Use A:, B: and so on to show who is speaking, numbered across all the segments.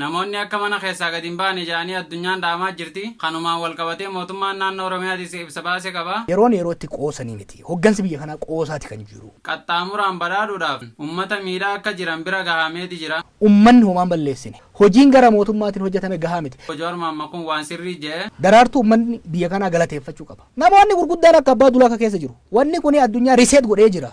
A: Namoonni akka mana keessaa gadi hin baane jedhanii addunyaan dhaamaa jirti. Kanumaan walqabatee mootummaan naannoo Oromiyaatis ibsa baase qaba. Yeroon yeroo itti qoosanii
B: miti. Hoggansi biyya kanaa qoosaati kan jiru. Qaxxaamuraan badhaadhuudhaaf
A: ummata miidhaa akka jiran bira gahameeti jira. Ummanni homaa hin balleessine.
B: Hojiin gara mootummaatiin hojjatame gahaa miti. Obbo Jawaar Mohammad kun waan
A: sirrii jedhe. Daraartuu ummanni biyya
B: kanaa galateeffachuu qaba. Namoonni gurguddaan akka Abbaa Dulaa ka keessa jiru. Wanni kuni addunyaa reset godhee jira.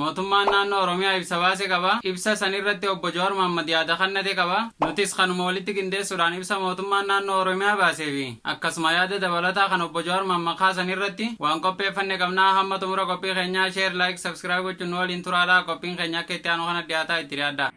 A: Mootummaan Naannoo Oromiyaa ibsa baase qaba. Ibsa san irratti Obbo Jawaar Mohammad yaada kannate qaba. Nutis kanuma walitti qindeessuudhaan ibsa Mootummaan Naannoo Oromiyaa baasee fi akkasuma yaada dabalataa kan Obbo Jawaar Mohammad kaasan irratti waan qopheeffanne qabna. Hamma xumura qophii keenyaa Share, Like, Subscribe gochuun nu waliin turaa dha. Qophiin keenya akka itti aanu kana dhiyaataa itti dhiyaadhaa.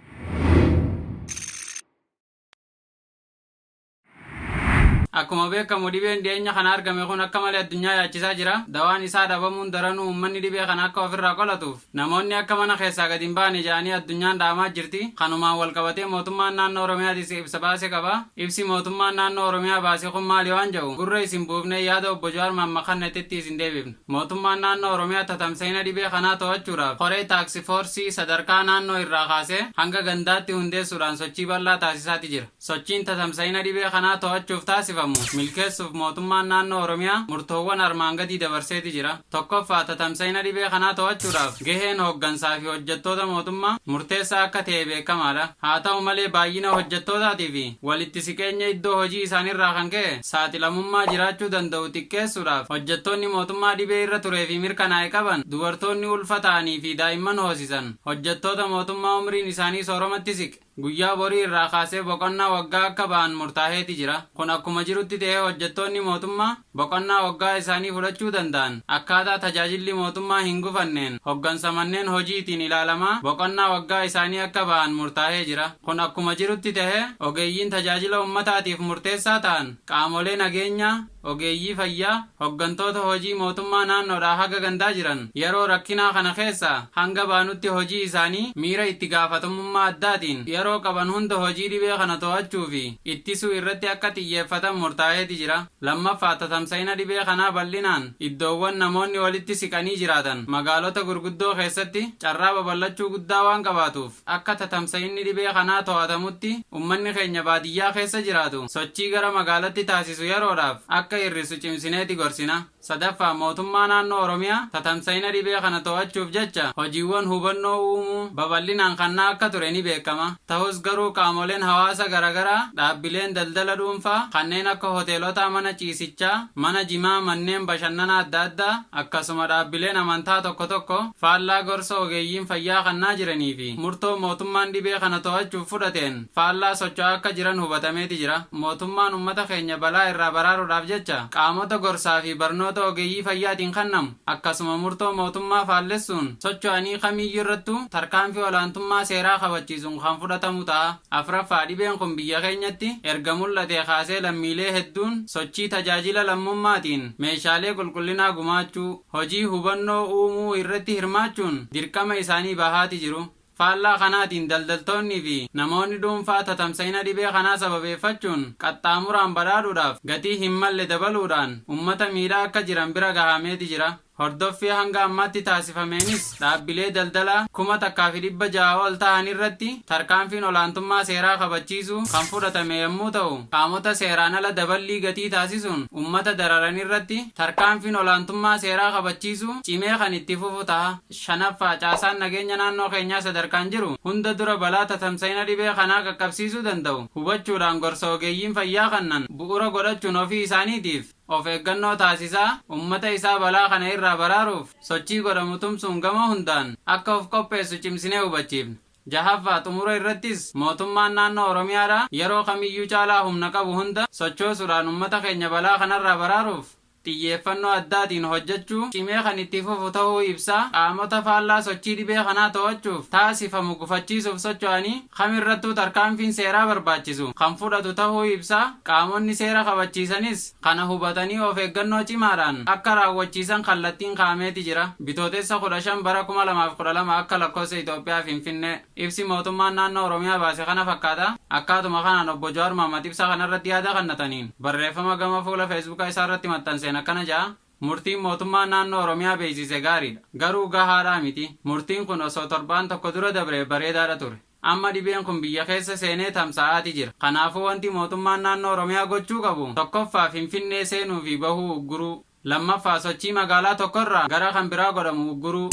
A: Akkuma beekamu dhibeen dhiyeenya kana argame kun akka malee addunyaa yaachisaa jira. Dawaan isaa dhabamuun daranuu uummanni dhibee kana akka ofirraa qolatuuf namoonni akka mana keessaa gadi hin baane jedhanii addunyaan dhaamaa jirti. Kanumaan walqabatee mootummaan naannoo Oromiyaatis ibsa baase qaba. Ibsi mootummaan naannoo Oromiyaa baase kun maali waan jedhu gurra isin buufnee yaada Obbo Jawaar Mahammad kannetetti isin deebifna. Mootummaan naannoo Oromiyaa tatamsa'ina dhibee kanaa to'achuudhaaf koree taaksifoorsii sadarkaa naannoo irraa kaasee hanga gandaatti hundeessuudhaan sochii bal'aa taasisaati jira. Sochiin tatamsa'ina dhibee kanaa to'achuuf taasifamu milkeessuuf Mootummaan Naannoo Oromiyaa murtoowwan armaan gadii dabarseeti jira. Tokkoffaa, tatamsa'ina dhibee kanaa to'achuudhaaf gaheen hooggansaafi hojjettoota mootummaa murteessaa akka ta'e beekamaadha. Haa ta'u malee baay'ina hojjettootaatiifi walitti siqeenya iddoo hojii isaaniirraa kan ka'e saaxilamummaa jiraachuu danda'u xiqqeessuudhaaf hojjettoonni mootummaa dhibee irra tureefi mirkanaa'e qaban, dubartoonni ulfa ta'aniifi daa'imman hoosisan, hojjettoota mootummaa umriin isaanii sooromatti siqe, Guyyaa borii irraa kaasee boqonnaa waggaa akka ba'an murtaaheeti jira. Kun akkuma jirutti ta'ee hojjettoonni mootummaa boqonnaa waggaa isaanii fudhachuu danda'an akkaataa tajaajilli mootummaa hin gufanneen hoggansa manneen hojiitiin ilaalamaa boqonnaa waggaa isaanii akka ba'an murtaahee jira. Kun akkuma jirutti ta'ee ogeeyyiin tajaajila ummataatiif murteessaa ta'an qaamolee nageenyaa, Ogeeyyii fayyaa, hoggantoota hojii mootummaa naannoodhaa haga gandaa jiran yeroo rakkinaa kana keessaa hanga baanutti hojii isaanii miira itti gaafatamummaa addaatiin yeroo qaban hunda hojii dhibee kana to'achuu fi ittisuu irratti akka xiyyeeffatan murtaa'eeti jira. Lammaffaa, tatamsa'ina dhibee kanaa bal'inaan iddoowwan namoonni walitti siqanii jiraatan magaalota gurguddoo keessatti carraa babal'achuu guddaa waan qabaatuuf, Akka tatamsa'inni dhibee kanaa to'atamutti ummanni keenya baadiyyaa keessa jiraatu sochii gara magaalatti taasisu yeroodhaaf akka hir'isu cimsineeti gorsina. Sadaffaa, Mootummaa Naannoo Oromiyaa tatamsa'ina dhibee kana to'achuuf jecha hojiiwwan hubannoo uumuu babal'inaan kannaa akka ture ni beekama. Tahus garuu qaamoleen hawaasa garagaraa, dhaabbileen daldala dhuunfaa kanneen akka hoteelotaa, mana ciisichaa, mana jimaa, manneen bashannanaa adda addaa, Akkasuma dhaabbileen amantaa tokko tokko faallaa gorsa ogeeyyiin fayyaa kannaa jiranii fi murtoo mootummaan dhibee kana to'achuuf fudhateen faallaa socho'aa akka jiran hubatameeti jira. Mootummaan ummata keenya balaa irraa baraaruudhaaf jecha qaamota gorsaa fi barnoota ogeeyyii fayyaatiin kannamu akkasuma murtoo mootummaa faallessuun socho'anii kamiiyyuu irrattuu tarkaanfii olaantummaa seeraa kabachiisuun kan fudhatamu ta'a. Afraffaa, dhibeen kun biyya keenyatti erga mul'atee kaasee lammiilee hedduun sochii tajaajila lammummaatiin meeshaalee qulqullinaa gumaachuu, hojii hubannoo uumuu irratti hirmaachuun dirqama isaanii bahaati jiru. Faallaa kanaatiin daldaltoonnii fi namoonni dhuunfaa tatamsa'ina dhibee kanaa sababeeffachuun qaxxaamuraan badhaadhuudhaaf gatii hin malle dabaluudhaan ummata miidhaa akka jiran bira gahameeti jira. Hordoffii hanga ammaatti taasifameenis dhaabbilee daldalaa 1,600 ol tahan irratti tarkaanfiin olaantummaa seeraa kabachiisuu kan fudhatame yammuu tahu qaamota seeraan ala daballii gatii taasisuun ummata dararan irratti tarkaanfiin olaantummaa seeraa kabachiisuu cimee kan itti fufu taha. 5ffaa Caasaan nageenya naannoo keenyaa sadarkaan jiru hunda dura balaa tatamsa'ina dhibee kanaa qaqqabsiisuu danda'u hubachuudhaan gorsa ogeeyyiin fayyaa kannan bu'ura godhachuun ofii isaaniitiif, of eeggannoo taasisaa ummata isaa balaa kana irraa baraaruuf sochii godhamu tumsuun gama hundaan akka of qopheessu cimsinee hubachiifna. Jahaffaa, Xumura irrattis Mootummaan Naannoo Oromiyaadhaa yeroo kamiyyuu caalaa humna qabu hunda sochoosuudhaan ummata keenya balaa kanarraa baraaruuf xiyyeeffannoo addaatiin hojjechuu cimee kan itti fufu tahuu ibsaa, qaamota faallaa sochii dhibee kanaa to'achuuf taasifamu gufachiisuuf socho'anii, kam irrattuu tarkaanfiin seeraa barbaachisu kan fudhatu tahuu ibsaa, qaamonni seera kabachiisanis kana hubatanii of eeggannoo cimaadhaan akka raawwachiisan kallattiin kaa'ameeti jira. Bitootessa 15 bara 2012 akka lakkoofsa Itoophiyaa Finfinnee. Ibsi mootummaan naannoo Oromiyaa baase kana fakkaata. Akkaatuma kanaan Obbo Jawaar Mohammad ibsa kanarratti yaada kannataniin barreeffama gama fuula Feesbuka isaarratti maxxanseen akkana ja'a. Murtiin mootummaan naannoo Oromiyaa beeksiise gaariidha. Garuu gahaadha miti. Murtiin kun osoo torbaan tokko dura dabree bareedaadha ture. Amma dhibeen kun biyya keessa seenee tamsa'aati jira. Kanaafuu wanti mootummaan naannoo Oromiyaa gochuu qabu tokkoffaa Finfinnee seenuu fi bahuu ugguruu. Lammaffaa sochii magaalaa tokko irraa gara kan biraa godhamu ugguruu.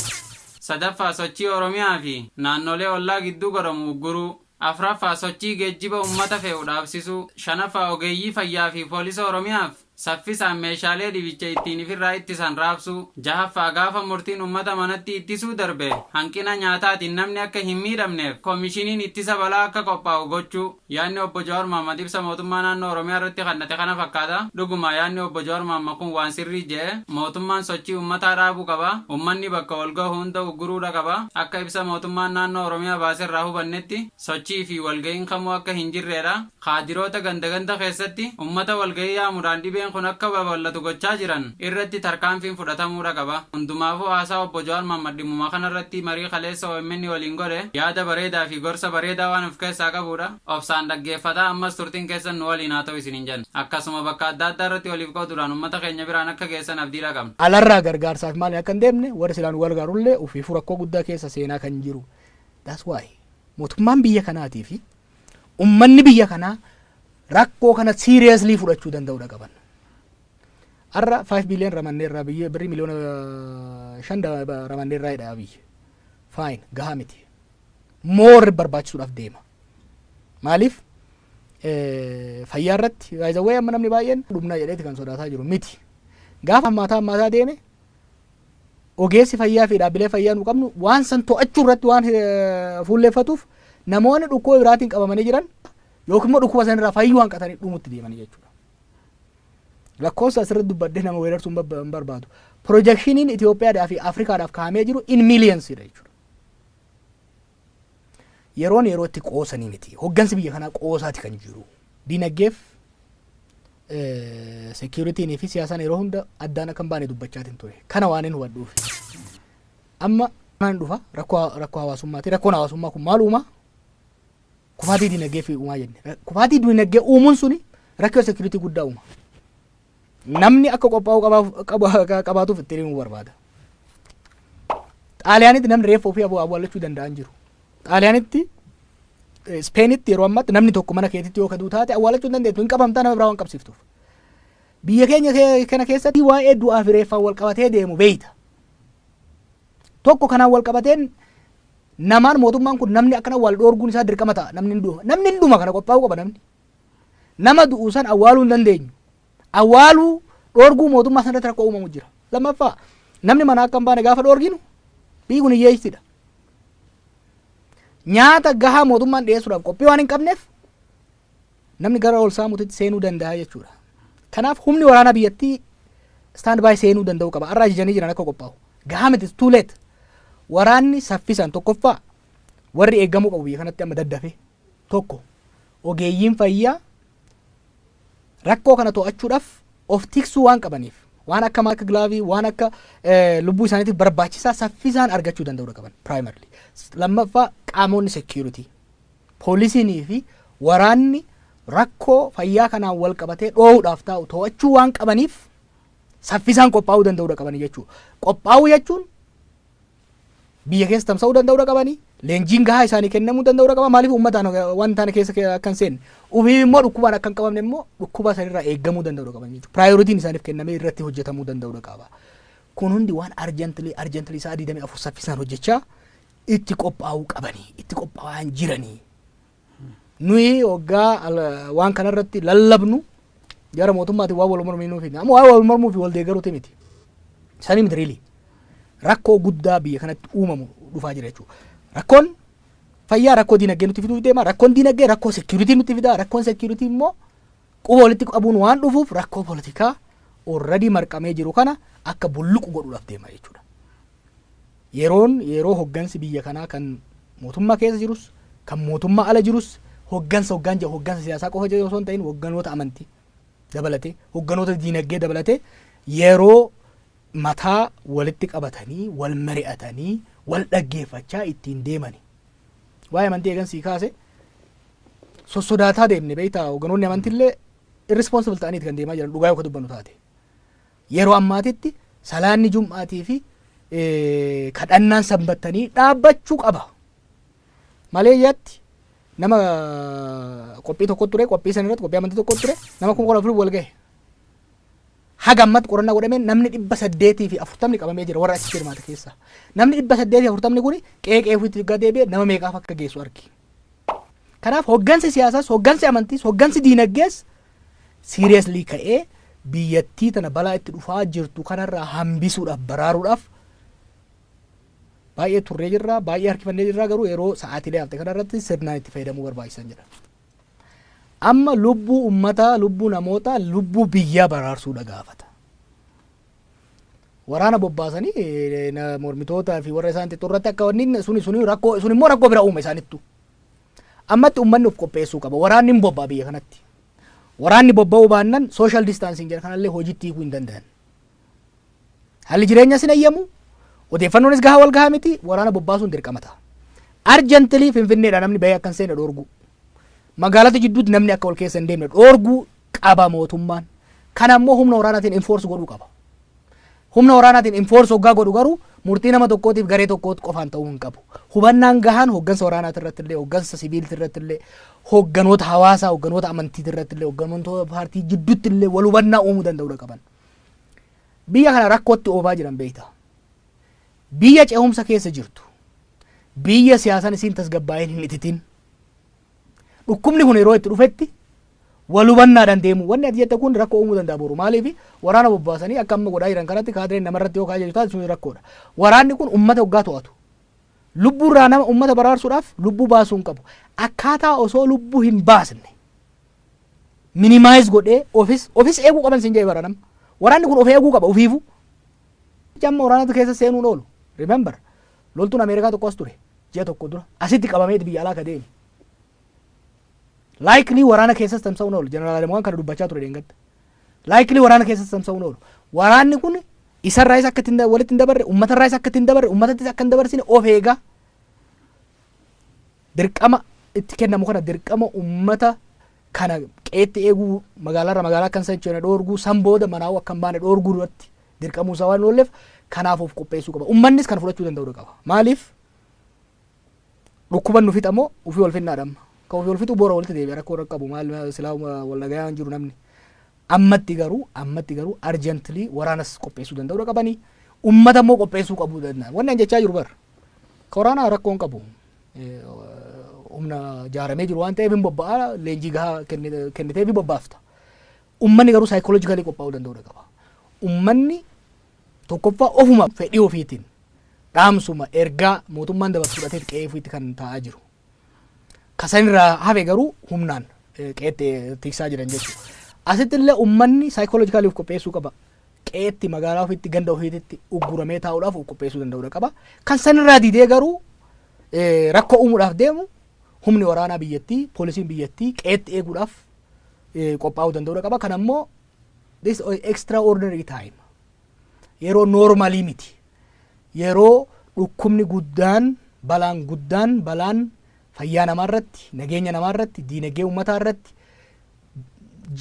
A: Sadaffaa sochii Oromiyaa fi naannolee ollaa gidduu godhamu ugguruu. Afraffaa sochii geejjiba ummata fe'u dhaabsisuu. Shanaffaa ogeeyyii fayyaa fi poolisa Oromiyaaf Saffisaan meeshaalee dhibicha ittiin ifirraa ittisan raabsuu. 6ffaa Gaafa murtiin ummata manatti ittisuu darbe hanqina nyaataatiin namni akka hin miidhamneef komishiniin ittisa balaa akka qophaa'u gochuu. Yaadni Obbo Jawaar Mohammad ibsa mootummaa naannoo Oromiyaa irratti kannate kana fakkaata. Dhuguma yaadni Obbo Jawaar Mohammad kun waan sirrii je'e. Mootummaan sochii ummataa dhaabuu qaba. Ummanni bakka wal gahu hunda ugguruudha qaba. Akka ibsa mootummaan naannoo Oromiyaa baaserraa hubannetti sochii fi walga'iin kamuu akka hin jirreedha. Kaadiroota ganda ganda keessatti ummata walgahii yaamudhaan dhibeen kun akka babal'atu gochaa jiran irratti tarkaanfiin fudhatamuudha qaba. Hundumaafuu haasaa Obbo Jawaar Mohammad dhimmuma kana irratti marii kaleessa omn waliin godhe yaada bareedaa fi gorsa bareedaa waan of keessaa qabuudha. Obsaan dhaggeeffataa ammas turtiin keessan nu waliin haa ta'u isiniin jenna. Akkasuma bakka adda addaa irratti waliif qoodudhaan ummata keenya biraan akka geessan abdiidha qabna. Alarraa gargaarsaaf
B: maaliin akka hin deemne warri silaa nu gargaaru illee ofiifuu rakkoo guddaa keessa seenaa kan jiru. That's why mootummaan biyya kanaatii fi ummanni biyya kanaa rakkoo kana seriously fudhachuu danda'udha qaban. Har'a 5 billion ramanneerraa biyya birrii miliyoona 5 ramanneerraa jedha biyya. Fine gahaa miti. More barbaachisuudhaaf deema. Maaliif? Fayyaa irratti baay'ee amma namni baay'een dhumna jedheeti kan sodaataa jiru miti. Gaafa hammaataa hammaataa deeme ogeessi fayyaa fi dhaabbilee fayyaa nu qabnu waan san to'achuu irratti waan eh, fuulleeffatuuf namoonni dhukkuba biraatiin qabamanii jiran yookiin immoo dhukkuba sanirraa fayyuu hanqatanii dhumutti deemanii jechuudha. Lakkoofsa asirratti dubbadhee nama weerarsuun babba- hin barbaadu. Pirojekshiniin Itoophiyaadhaa fi Afrikaadhaaf kaa'amee jiru in miiliyansiidha jechuudha. Yeroon yeroo itti qoosanii miti. Hoggansi biyya kanaa qoosaati kan jiru. Diinaggeef seekiyuritiinii fi siyaasaan yeroo hunda addaan akka hin baane dubbachaatiin ture. Kana waan hin hubadhuuf. Amma kanaan dhufa rakkoo rakkoo hawaasummaati. Rakkoon hawaasummaa kun maal uumaa? Kufaatii diinagdee fi uumaa jenne. Kufaatii diinagdee uumuun suni rakkoo seekiyuritii guddaa uuma. Namni akka qophaa'uu qabaaf- qaba- akka qabaatuuf ittiin himuu barbaada. Xaaliyaanitti namni reeffa ofii abu- awwaallachuu danda'an jiru. Xaaliyaanitti eh, Ispeenitti yeroo ammaatti namni tokko mana keetitti yoo kaduu taate awwaallachuu hin dandeettu hin qabamtaa nama biraa waan qabsiiftuuf. Biyya keenya kee- kana keessatti waa'ee du'aa fi reeffaan wal qabatee deemu beeyta. Tokko kanaan wal qabateen namaan mootummaan kun namni akkana wal dhoorguun isaa dirqama ta'a namni hin dhuma namni hin dhuma kana qophaa'uu qaba namni. Nama du'u san awwaaluu hin dandeenyu. Awwaaluu dhoorguu mootummaa san irratti rakkoo uumamu jira. Lammaffaa namni manaa akka hin baane gaafa dhoorginu biyyi kun hiyyeessidha. Nyaata gahaa mootummaan dhiyeessuudhaaf qophii waan hin qabneef namni gara ol saamuutti seenuu danda'a jechuudha. Kanaaf humni waraanaa biyyattii stand by seenuu danda'uu qaba. Har'a ajajanii jiran akka qophaa'u. Gahaa miti too late. Waraanni saffisaan tokkoffaa warri eegamuu qabu biyya kanatti amma daddafee. 1, Ogeeyyiin fayyaa rakkoo kana to'achuudhaaf of tiksuu waan qabaniif waan akka mask gilaavii waan akka lubbuu isaaniitiif barbaachisaa saffisaan argachuu danda'uudha qaban primarily. Lammaffaa qaamonni security poolisiinii fi waraanni rakkoo fayyaa kanaan wal qabatee dhoohuudhaaf taa'u to'achuu waan qabaniif saffisaan qophaa'uu danda'uudha qaban jechuudha. Qophaa'uu jechuun biyya keessa tamsa'uu danda'uudha qabanii leenjiin gahaa isaanii kennamuu danda'uudha qaba maaliif uummataan waan taane keessa akka hin seenne ufiif immoo dhukkubaan akka hin qabamne immoo dhukkubaa sanirraa eegamuu danda'uudha qaban jechuudha piraayoritiin isaaniif kennamee irratti hojjetamuu danda'uudha qaba kun hundi waan arjantilii arjantilii isaa 24 saffisaan hojjechaa itti qophaa'uu qabanii itti qophaa'aa hin jiranii Nuyi hoggaa al- waan kana irratti lallabnu jara mootummaatiin waan wal mormii nuuf hin amma waan wal mormuu fi wal deeggaruuti miti. Sanii miti riilii. Rakkoo guddaa biyya kanatti uumamu dhufaa jira jechuudha. Rakkoon fayyaa rakkoo diinagdee nutti fiduuf deema. Rakkoon diinagdee rakkoo seekiyuritii nutti fida. Rakkoon seekiyuritii immoo Quba walitti qabuun waan dhufuuf rakkoo politikaa already marqamee jiru kana akka bulluqu godhuudhaaf deema jechuudha. Yeroon yeroo hoggansi biyya kanaa kan mootummaa keessa jirus kan mootummaa ala jirus hoggansa hoggaan jedhu hoggansa siyaasaa qofa jedhu osoo hin ta'in hogganoota amantii dabalatee hogganoota diinagdee dabalatee yeroo mataa walitti qabatanii wal mari'atanii wal dhaggeeffachaa ittiin deemani Waa'ee amantii eegan sii kaase sossodaataa deemne beektaa hoganoonni amantiillee irresponsible ta'aniiti kan deemaa jiran dhugaa yoo ka dubbannu taate. Yeroo ammaatitti salaanni jum'aatii fi kadhannaan sanbattanii dhaabbachuu qaba. Malee yaatti nama qophii tokko ture qophii san irratti qophii amantii tokko ture nama kuma kudha afurii wal gahe. Haga ammatti qorannaa godhameen namni 840 qabamee jira warra achitti hirmaate keessaa. Namni 840 kuni qe'ee qe'ee ofiitti yoggaa deebi'e nama meeqaaf akka geessu argi. Kanaaf hoggansi siyaasaas, hoggansi amantiis, hoggansi diinaggees seriously ka'ee biyyattii tana balaa itti dhufaa jirtu kanarraa hambisuudhaaf, baraaruudhaaf baay'ee turree jirra, baay'ee harkifannee jirra garuu yeroo sa'aatiilee hafte kanarratti sirnaan itti fayyadamuu barbaachisan jedha. Amma lubbuu ummataa, lubbuu namootaa, lubbuu biyyaa baraarsuudha gaafata. Waraana bobbaasanii eh, na- mormitootaa fi warra isaan xixxurratti akka wanni suni suni rakkoo sun immoo rakkoo bira uuma isaanittu. Ammatti ummanni of qopheessuu qaba. Waraanni hin bobba'a biyya kanatti. Waraanni bobba'uu baannan social distancing jedha kanallee hojiitti hiikuu hin danda'an. Haalli jireenyas hin ayyamu, odeeffannoonis gahaa wal gahaa miti, waraana bobbaasuun dirqama ta'a. Arjantilii Finfinneedhaa namni bahee akka hin seenne dhoorguu. Magaalota jidduutti namni akka wal keessa hin deemne dhoorguu qaba mootummaan. Kana immoo humna waraanaatiin enforce godhuu qaba. Humna waraanaatiin enforce hoggaa godhu garuu murtii nama tokkootiif garee tokkootti qofaan ta'uu hin qabu. Hubannaan gahaan hoggansa waraanaati irratti illee, hoggansa siviilti irratti illee, hogganoota hawaasaa, hogganoota amantiiti irratti illee, hogganoota paartii jidduutti illee wal hubannaa uumuu danda'uudha qaban. Biyya kana rakkootti oofaa jiran beekta. Biyya ce'umsa keessa jirtu. Biyya siyaasan isiin tasgabbaa'een hin ititin. Dhukkubni kun yeroo itti dhufetti wal hubannaadhaan deemu. Wanni ati jette kun rakkoo uumuu danda'a boru. Maaliif waraana bobbaasanii akka amma godhaa jiran kanatti kaadireen namarratti yoo kaajaju taate sun rakkoodha. Waraanni kun uummata hoggaa to'atu. Lubbuurraa nama uummata baraarsuudhaaf lubbuu baasuu hin qabu. Akkaataa osoo lubbuu hin baasne minimize godhee ofis ofis eeguu qaban sin jedhe bara nama waraanni kun of eeguu qaba ofiifu jamma waraanatu keessa seenuun oolu remember loltuun ameerikaa tokko as ture ji'a tokko dura asitti qabameeti biyya alaa ka deeme likely waraana keessas tamsa'uun oolu jeneraal Adamuwaan kana dubbachaa ture deengadda likely waraana keessas tamsa'uun oolu waraanni kun isarraayis akka ittiin da- walitti hin dabarre ummatarraayis akka ittiin dabarre ummatattis akka hin dabarsine of eegaa Dirqama itti kennamu kana dirqama ummata kana qeetti eeguu magaalarra magaalaa akka hin sochoone dhoorguu san booda manaa'uu akka hin baane dhoorguu duratti dirqamuu isaa waan hin oolleef kanaaf of qopheessuu qaba. Ummannis kana fudhachuu danda'uu dha qaba. Maaliif dhukkuban nu fixa moo ofii wal finnaa dhamma. Ka ofii wal fixuu boora walitti deebi'a rakkoo irra qabu maal silaa wal dhagayaa hin jiru namni. Ammatti garuu ammatti garuu arjantilii waraanas qopheessuu danda'uu dha qabanii ummata immoo qopheessuu qabuu danda'an. Wanni an jechaa jiru bar ka waraanaa rakkoo hin qabu. humna jaaramee jiru waan ta'eef hin bobba'a leenjii gahaa kenniteef hin bobbaafta. Ummanni garuu saayikoloojikaalii qophaa'uu danda'uudha qaba. Ummanni tokkoffaa ofuma fedhii ofiitiin dhaamsuma ergaa mootummaan dabarsu fudhateet qe'ee ofiitti kan taa'aa jiru. Kasanirraa hafe garuu humnaan qe'eetti tiksaa jiran jechuudha. Asitti illee ummanni saayikoloojikaalii of qopheessuu qaba. qe'eetti, magaalaa ofiitti, ganda ofiititti ugguramee taa'uudhaaf of qopheessuu danda'uudha qaba. Kan sanirraa didee garuu eh, rakkoo uumuudhaaf deemu humni waraanaa biyyattii, poolisiin biyyattii qe'eetti eeguudhaaf eh, qophaa'uu danda'uudha qaba. Kan ammoo this extraordinary time yeroo noormaalii miti. Yeroo dhukkubni guddaan, balaan guddaan, balaan fayyaa namaa irratti, nageenya namaa irratti, diinagdee uummataa irratti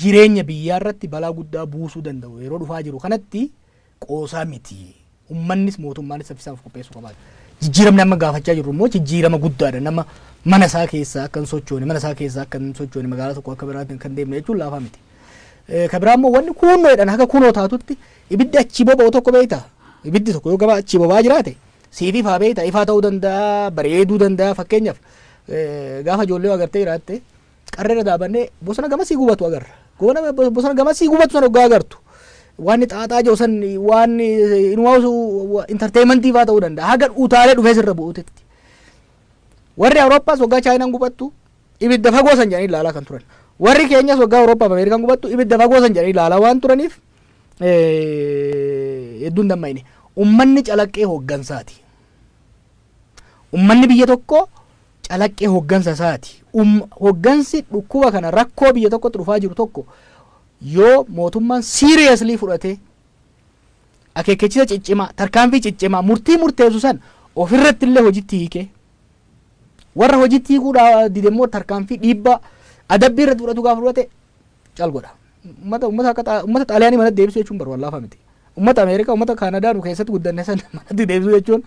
B: jireenya biyyaa irratti balaa guddaa buusuu danda'u yeroo dhufaa jiru kanatti qoosaa miti. Ummannis mootummaanis saffisaan of qopheessuu qabaata. Jijjiiramni amma gaafachaa jirru immoo jijjiirama guddaadha. Nama mana isaa keessaa akka hin sochoone, mana isaa keessaa akka hin sochoone, magaalaa tokko akka biraatti kan deemne jechuun laafaa miti. Eh, Kan biraa immoo wanni kuunnoo jedhan haga kunoo taatutti ibiddi achii boba'u tokko beekta. Ibiddi tokko yoo gabaa achii boba'aa jiraate siif ifaa beekta. Ifaa ta'uu danda'a, bareeduu danda'a fakkeenyaaf eh, gaafa ijoollee yoo agartee jiraatte Qarreerra daabannee bosona gamasii gubatu agarra. Goona bosona gamasii gubatu san hoggaa agartu. Waan xaaxaa jiru san waan inuwaasu intarteeyimantii fa'aa ta'uu danda'a. Haga utaalee dhufee sirra bu'uutetti. Warri Awurooppaas hoggaa Chaayinaan gubattu ibidda fagoo san jedhanii ilaalaa kan turan. Warri keenyas hoggaa Awurooppaaf Ameerikaan gubattu ibidda fagoo san jedhanii ilaalaa waan turaniif hedduun damma'ine. Ummanni calaqqee hooggansaati. Ummanni biyya tokkoo calaqqee hoggansa isaati. Um, hoggansi dhukkuba kana rakkoo biyya tokkotti dhufaa jiru tokko yoo mootummaan seriously fudhatee akeekkachiisa ciccimaa, tarkaanfii ciccimaa, murtii murteessu san ofirratti illee hojitti hiikee warra hojitti hiikuu dha- dide immoo tarkaanfii dhiibbaa adabbii irratti fudhatu gaafa fudhate cal godha. Ummata ummata akka xaa- ummata xaaliyaanii manatti deebisuu jechuun bar waan laafaa miti. Ummata Ameerikaa ummata Kaanadaa nu keessatti guddanne san manatti deebisuu jechuun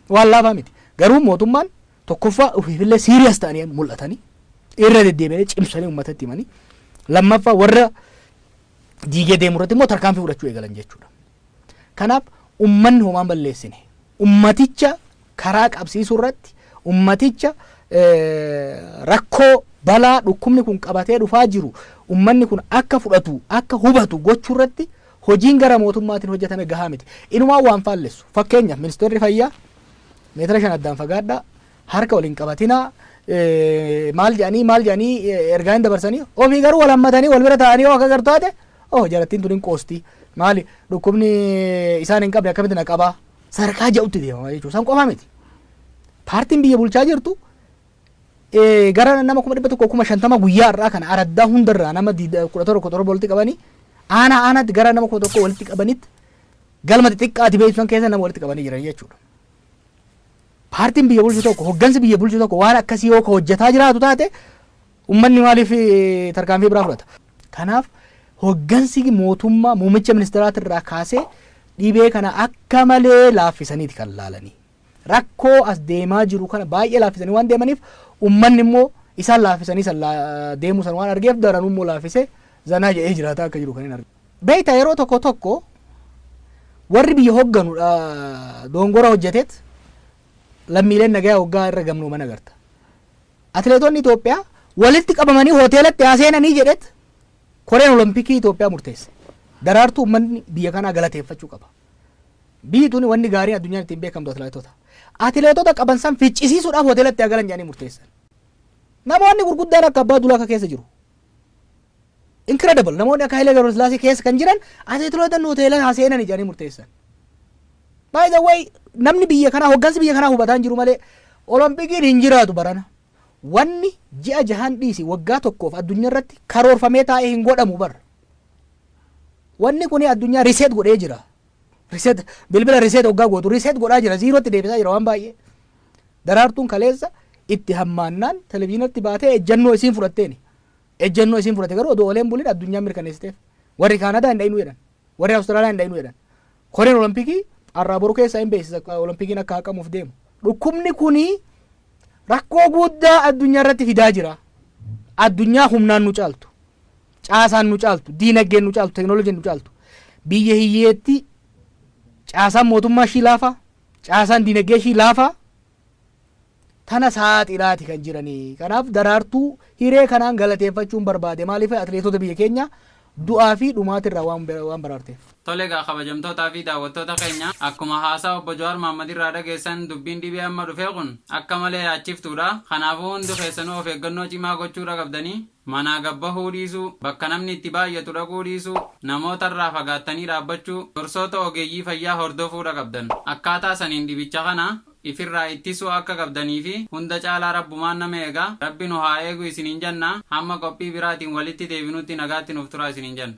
B: waan laafaa miti. Garuu mootummaan tokkoffaa ofiifillee siiriyas ta'anii mul'atanii irra deddeebi'anii cimsanii ummatatti himanii lammaffaa warra diigee deemu irratti immoo tarkaanfii fudhachuu eegalan jechuudha. Kanaaf ummanni homaa hin balleessine. Ummaticha karaa qabsiisuu irratti ummaticha rakkoo balaa dhukkubni kun qabatee dhufaa jiru ummanni kun akka fudhatu akka hubatu gochuu irratti hojiin gara mootummaatiin hojjetame gahaa miti. Inumaa waan faallessu fakkeenyaaf ministeerri fayyaa meetira shan addaan fagaadhaa harka wal hin qabatinaa maal jedhanii maal jedhanii ergaa hin dabarsanii ofii garuu wal hammatanii wal bira taa'anii yoo akka gartu taate oh jarattiin tun hin qoosti maali dhukkubni isaan hin qabne akkamitti na qabaa sadarkaa ja'utti deemama jechuudha san qofa miti paartiin biyya bulchaa jirtu eh, gara nama kuma dhibba tokko kuma shantama guyyaa irraa kana araddaa hundarraa nama diida- kudha torba kudha torba walitti qabanii aanaa aanaatti gara nama kuma tokko walitti qabanitti galma xixiqqaati beeksisan keessa nama walitti qabanii jiran jechuudha. Paartiin biyya bulchu tokko, hoggansi biyya bulchu tokko waan akkasii yoo ka hojjetaa jiraatu taate ummanni maaliif eh, tarkaanfii biraa fudhata? Kanaaf hoggansi mootummaa muummicha ministeeraati irraa kaasee dhibee kana akka malee laaffisaniiti kan laalanii. Rakkoo as deemaa jiru kana baay'ee laaffisanii waan deemaniif ummanni immoo isaan laaffisanii san laa- deemuu san waan argeef daranuu immoo laaffisee zanaa jedhee jiraataa akka jiru kan hin argine. Beektaa yeroo tokko tokko warri biyya hogganu dongora hojjeteet lammiileen nagayaa hoggaa irra gamnooman agarta. Atileetonni Itoophiyaa walitti qabamanii hoteelatti haa seenanii jedheet koreen olompikii Itoophiyaa murteesse. Daraartuu uummanni biyya kanaa galateeffachuu qaba. Biyyi tuni wanni gaariin addunyaan ittiin beekamtu atileetota. Atileetota qaban san ficcisiisuudhaaf hoteelatti haa galan jedhanii murteessan. Namoonni gurguddaan akka abbaa dulaa akka keessa jiru. Incredible! Namoonni akka Hayilee Gabrasillaasee keessa kan jiran atileetotan hoteela haa seenani jedhanii murteessan. By the way, namni biyya kanaa, hoggansi biyya kanaa hubataa hin jiru malee Olompikiin hin jiraatu barana. Wanni ji'a jahan dhiisi waggaa tokkoof addunyaa irratti karoorfamee taa'e hin godhamu bar. Wanni kuni addunyaa reset godhee jira. Reset, bilbila reset hoggaa gootu reset godhaa jira. Ziirootti deebisaa jira waan baay'ee. Daraartuun kaleessa itti hammaannaan televizyinatti baatee ejjannoo isiin fudhatteeni. Ejjennoo isiin fudhate garuu odoo oolee hin bulin addunyaan mirkaneessiteef. Warri Kaanadaa hin dhayinuu jedhan. Warri Awustiraaliyaa hin dhayinuu jedhan. Koreen Olompikii har'aa boru keessaa hin beeksisa Olompikiin akka haqamuuf deemu. Dhukkubni kuni rakkoo guddaa addunyaa irratti fidaa jira. Addunyaa humnaan nu caaltu, caasaan nu caaltu, diinaggeen nu caaltu, teknooloojiin nu caaltu. Biyya hiyyeetti caasaan mootummaa ishii laafaa, caasaan diinaggee ishii laafaa, tana saaxilaati kan jirani. Kanaaf Daraartuu hiree kanaan galateeffachuun barbaade. Maaliif atileetota biyya keenya du'aa fi dhumaatirraa waan baraarteef. Tole egaa kabajamtootaa
A: fi daawwattoota keenya, akkuma haasaa Obbo Jawaar Mahaammad irraa dhageessan dubbiin dhibee amma dhufee kun akka malee yaachiftuudha. Kanaafuu hundi keessanuu of eeggannoo cimaa gochuudha qabdanii. Manaa gad bahuu dhiisuu, bakka namni itti baay'atu dhaquu dhiisuu, namoota irraa fagaattanii dhaabbachuu, gorsoota ogeeyyii fayyaa hordofuu dhaqabdan. Akkaataa saniin dhibicha kana if irraa ittisuu akka qabdanii fi hunda caalaa Rabbumaan nama eega, Rabbi nu haa eegu isiniin janna, hamma qophii biraatiin walitti deebinutti nagaatti nuuf turaa isiniin janna.